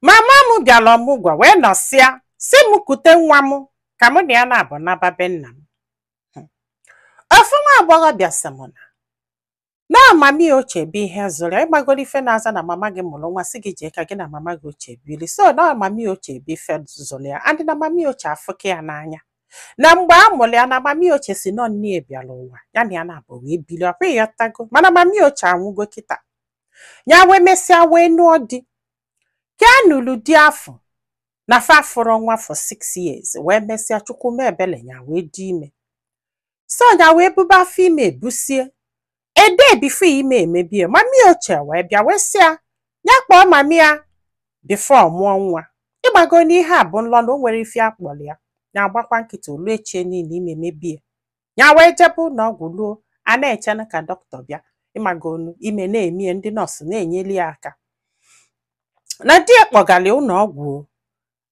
mama m bịara ọmụgwọ wee nọsịa sị m kute nwa m ka mụ na ya naabọ naba be nna m Hmm. ofu nwa agbọghọ bịa sị m na mama ya ochie bụ ihe zụrụ ya ịmagoro ife na-aza na mama gị mụrụ nwa sị gị jee ka gị na mama gị ochie biri so na mama ya ochie bụ ife zụrụ ya and na mama ya ochie afụka ya n'anya na mgbe a mụrụ ya na mama ya ochie sị na ọ nne ya bịara ụwa ya na ya naabọ wee biri ọkwa ịghọtago mana mama ya ochie anwụgo kịta ya wee mesịa wee nụọ di ka ya nụrụ di afụ na fa afụrọ nwa for six years wee mesịa chukwu mee ebele ya wee dị ime so ya wee bube afọ ime ebusie a day before ime emebie mama ya ochie wee bịa wee sị ya ya kpọọ mama ya before ọ mụọ nwa ịmago na ihe a bụ nlọ na o nwerọ ife a kpọrọ ya ya agbakwa nkịtị o luo echie niile ime emebie ya wee jebe ụlọ ọgwụ luo a na-eche na ka doctor bịa ịmago na ime na-eme ya ndị nọọsụ na-enyeli ya aka na di ya kpọgara ya ụlọ ọgwụ o.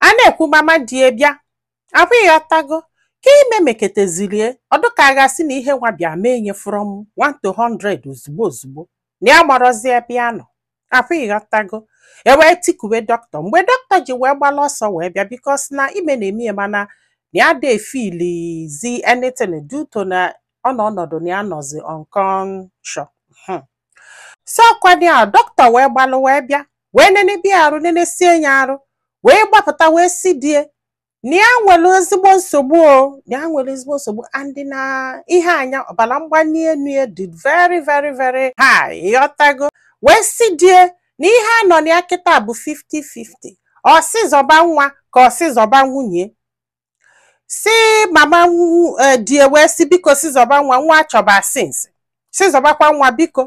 a na-ekwu mama di ya bịa abụ ịghọtago ka ime meketezirie ọ dụ ka a ga-asị na ihe nwa bịa mee nye from 1 to 100 ozugbo ozugbo na ya amarọzi ebe ya nọ afọ ịghọtago e wee tikuwe doctor mgbe doctor ji wee gbala ọsọ wee bịa because na ime na-eme ya mana na ya adị e-feelizi anything due to na ọ nọ ọnọdụ na ya nọzi unconscious Hmm. so ọkwa na doctor wee gbalụ wee bịa wee nenebe ya arụ nenesie ya arụ wee gbapụta wee sị di ya na ya nwere ezigbo nsogbu o na ya nwere ezigbo nsogbu and na ihe a na ọbara mgbali elu ya dị very very very high ịghọtago wee sị di ya na ihe a nọ na ya kịta bụ 50-50 ọ sị zọba nwa ka ọ sị zọba nwunye sị mama nwu- eh, di ya wee sị biko sị zọba nwa nwa a chọba since sị zọbakwa nwa biko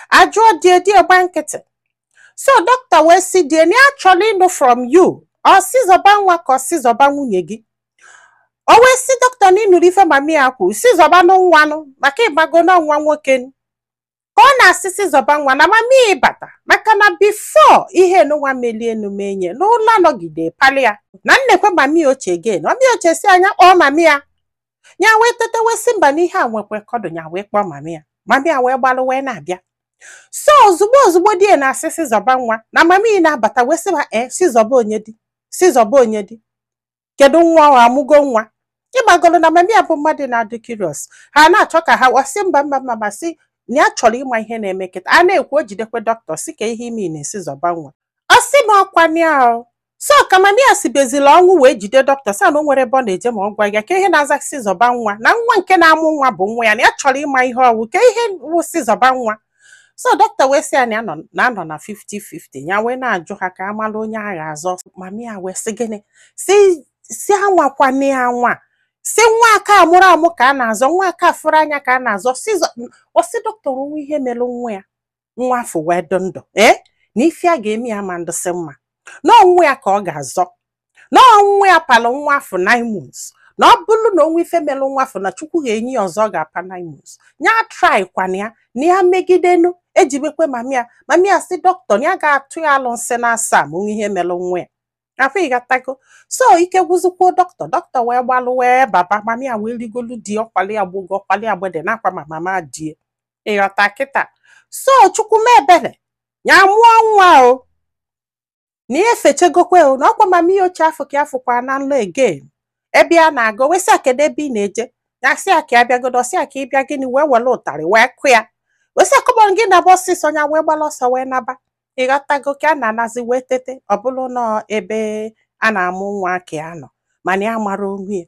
a jụọ di ya di ya agba nkịtị so doctor wee sị di ya na ya chọrọ ịnụ from you ọ sị zọba nwa ka ọ sị zọba nwunye gị o wee sị doctor na ị nụrụ ife mama ya kwu sị zọbanụ nwa nụ maka ịmago na ọ nwa nwoke nụ. ka ọ na-asị sị zọba nwa na mama ya abata maka na before ihe nụnwa melie enu menye n'ụla nọgide palị ya na nekwe mama ya ochie again mama ya ochie sị ya ya kpọọ mama ya ya wee teta wee sị mba na ihe a nwekwe ka ọ dụ ya wee kpọọ mama ya mama ya wee gbalụ wee na-abịa so ozugbo ozugbo di ya na-asị sị zọba nwa na mama ya na-abata wee sị ha ee sị zọba onye di sị zọba onye di kedu nwa ọ amụgo nwa ịmagoro na mama ya bụ mmadụ na-adị curious ha na-achọ ka ha wasị mba mba mba mba sị na ya chọrọ ịma ihe na-eme kịta a na-ekwu o jidekwe doctor sị kee ihe ị mean na-asị zọba nwa ọ sị m ọkwa nịa o so ka mami ya sibezila ọnwụ wee jide dọkịta sị ya na o nwerọ ebe ọ na-eje ma ọ gwa ya ka ihe na-aza sị zọba nwa na nwa nke na-amụ nwa bụ nwa ya na ya chọrọ ịma ihe ọ wụ kee ihe wụ sị zọba nwa so dọkịta wee sị ya na ya nọ- na a nọ na 50-50 ya wee na-ajụ ha ka a mara onye a ga-azọ mami ya wee sị gịnị sị sị anwakwana ya anwa sị nwa aka amụrọ amụ ka a na-azọ nwa aka afụrọ anya ka a na-azọ sị zọ- ọ sị dọkịta o nwee ihe mere nwa ya nwa afụ wee dị ndụ ee na ife a ga-eme ya ama ndịsị mma na ọ nwa ya ka ọ ga-azọ na ọ nwa ya palụ nwa afụ nine months na ọ bụrụ na o nwee ife melụ nwa afụ na chukwu ga-enye ya ọzọ ọ ga-apa nine months ya try kwana ya na ya megidenu ejibekwe mami ya mami ya sị dọkịta na ya ga-atụ ya alụsị na asaa ma o nwee ihe melụ nwa ya afụ ịghọtago so ike gwụzikwuo dọkịta dọkịta wee gbalụ wee baba mami ya wee rigolu di ọkwali agbụgo ọkwali agbede na akwa ma mama di ya ịghọta kịta so chukwu mee ebere ya mụọ nwa o na ya efechegokwe o na ọkwa mama ya ochie afụ ka ya fụkwa na nlọ again ebe ya na-aga o wee sị ya kedu ebe ị na-eje ya sị ya ka ya bịagodu ọ sị ya ka ị bịa gịnị wee were ụtarị wee kụ ya wee sị ya come on gị naba ọsịsọ ya wee gbara ọsọ wee naba ịghọtago ka ya na-anazi wee tete ọ bụrụ na ebe a na-amụ nwa ka ya nọ mana ya amarọ onwe ya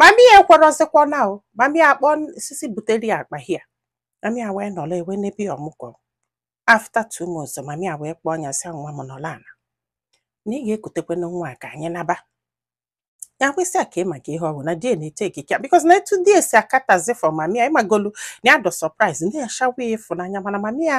mami ya ekwerọzikwa naa o mami ya akpọọ sị sị butere ya akpa ya mami ya wee nọrọ wee nebe ya ọmụgwọ after two months mami ya wee kpọọ ya sị ya, nwa m nọrọ ala na ị ga-ekutekwa na nwa a ka anyị naba ya wee sị ya kee maka ihe ọ bụ na di ya na-etake care because na etu di ya si akatazi for mami ya ịmagolu na ya dị surprise ndị ya shawa ya ịfụnanya mana mami ya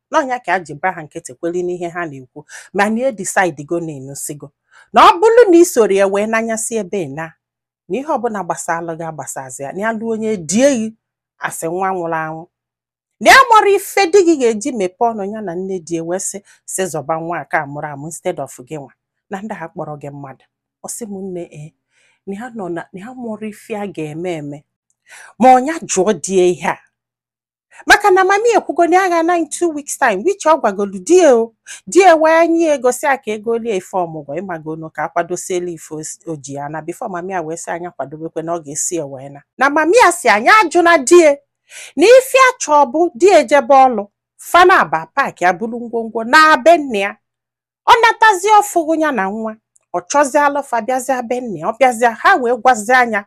na ọ nya ka ya ji gba ha nkịtị kweli n'ihe ha na-ekwu mana ya edecidego na ịnụsigo na ọ bụrụ na i sorọ ya wee n'anyasị ebe ị na na ihe ọbụla gbasalụ gị agbasazi ya na ya lụọ onye die gị as nwa nwụrụ anwụ na ya amarọ ife di gị ga-eji mepee ọnụ ya na nne di wee sị sị zọba nwa aka amụrọ amụ instead of gị nwa na ndị a akpọrọ gị mmadụ ọ sị m nne e na ya nọ na na ya amarọ ife ya ga-eme eme ma ọ nya jụọ di ya ihe a maka na mami ya ekwugo na ya ga-ana in two weeks time which ọ gwagolu di ya o di ya wee nye ya ego sị ya ka e golie ife ọmụgwọ ịmagonu ka a kwadosiela ife os- o ji ana before mami ya wee sị nya kwadobekwe na ọ ga-eso ya wee naa na mami ya sị nya ajụna di ya na ife ya chọọ bụ di ya ejebe ọlụ fa naabọ apaakịa buru ngwongwo naa be nne ya ọ natazi ọ fụghụ ya na nwa ọ chọzialụ fa bịazịa be nne ya ọ bịazịa ha wee gwazie nya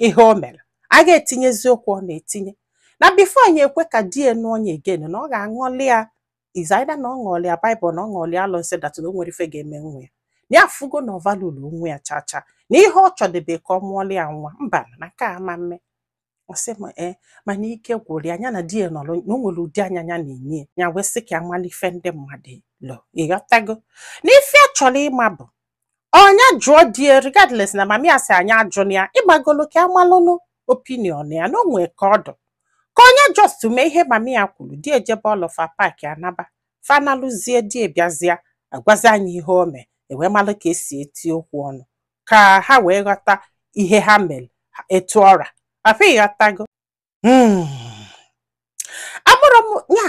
ihe o mere a ga-etinyezi okwu ọ na-etinye na before nya ekwe ka di ya nụọ nya again na ọ ga-aṅụli ya it's either na ọ ṅụọli ya Bible na ọ ṅụọli ya alụsị that na o nwerọ ife ga-eme nwa ya na ya afụgo na ọ valuerọ nwa ya chacha na ihe ọ chọdebe ka ọ mụọli ya nwa mba na nke a ama mme ọ sị m ee mana ike gwụrụ ya nya na di ya nọrọ na o nwere ụdị anya ya na-enye ya wee sị ka ya mara ife ndị mmadụ lo ịghọtago na ife ya chọrọ ịma bụ ọ nya jụọ di ya regardless na mami ya sị nya ajụna ya ịgbagolo ka a malụnụ opinion ya na o nwee ka ọ dụ ka ọ nya just mee ihe mami ya kwuru di ejebe ọlụ fa paakịa naba fa naluzie di bịazịa agwazia nya ihe o mee e wee malụ ka e si eti okwu ọnụ ka ha wee ghọta ihe ha mere etu ọra afọ ịghọtago hmm. amụrụ m ya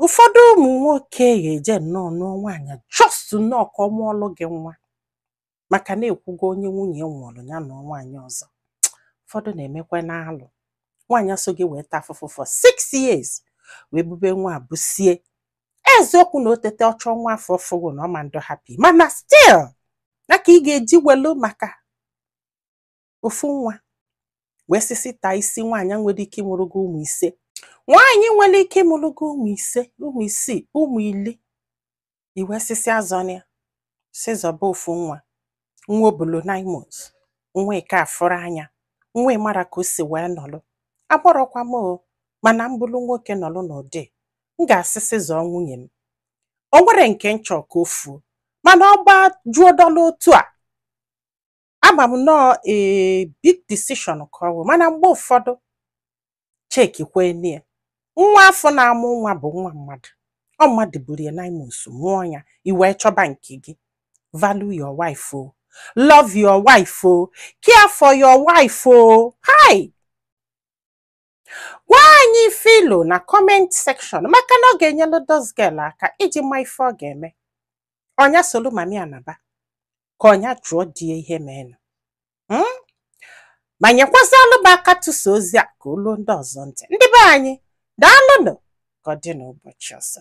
ụfọdụ ụmụ nwoke ga-eje nnọọ nụọ nwaanyị just nnọọ ka ọ mụọlụ gị nwa maka na e kwugo onye nwunye nwụrụ ya nụọ nwaanyị ọzọ ụfọdụ na-emekwanụ alụ nwaanyị a so gị wee taa afụfụ for six years wee bube nwa busie eziokwu na o tete ọ chọọ nwa afụ ọ fụghị na ọ ma adị happy mana still na ka ị ga-eji welu maka ofu nwa wee sị sị taa isi nwaanyị nwere ike ịmụrụ gị ụmụ ise nwaanyị nwere ike ịmụrụ gị ụmụ ise ụmụ isii ụmụ ili i wee sị sị azọna ya sị zọba ofu nwa nwa o bulu nine months nwa ị ka afụrọ anya nwa ị marọ ka o si wee nọlụ abụrọkwa m o mana m bụrụ nwoke nọlụ n'ụdị m ga-asị sị zọọ nwunye m o nwerọ nke m chọ ka o fuo mana ọ gbajuo dọla otu a ama m na ọ a big decision ka ọ bụ mana mgbe ụfọdụ checkikwenie nwa afụ na-amụ nwa bụ nwa mmadụ ọ mmadụ buru ya nine months mụọ ya i wee chọba nke gị value your wife o love your wife o care for your wife o hai gwa anyị ife i lo na comment section maka na ọ ga-enyelu this girl aka i ji ma ife ọ ga-eme ọ nya solu mami ya naba ka ọ nya jụọ di ya ihe meenụ hmm? ma nyekwazị alụba aka tụsa ozi a ka o luo ndị ọzọ ntị ndị be anyị daalụnụ ka ọ dị n'ụbọchị ọzọ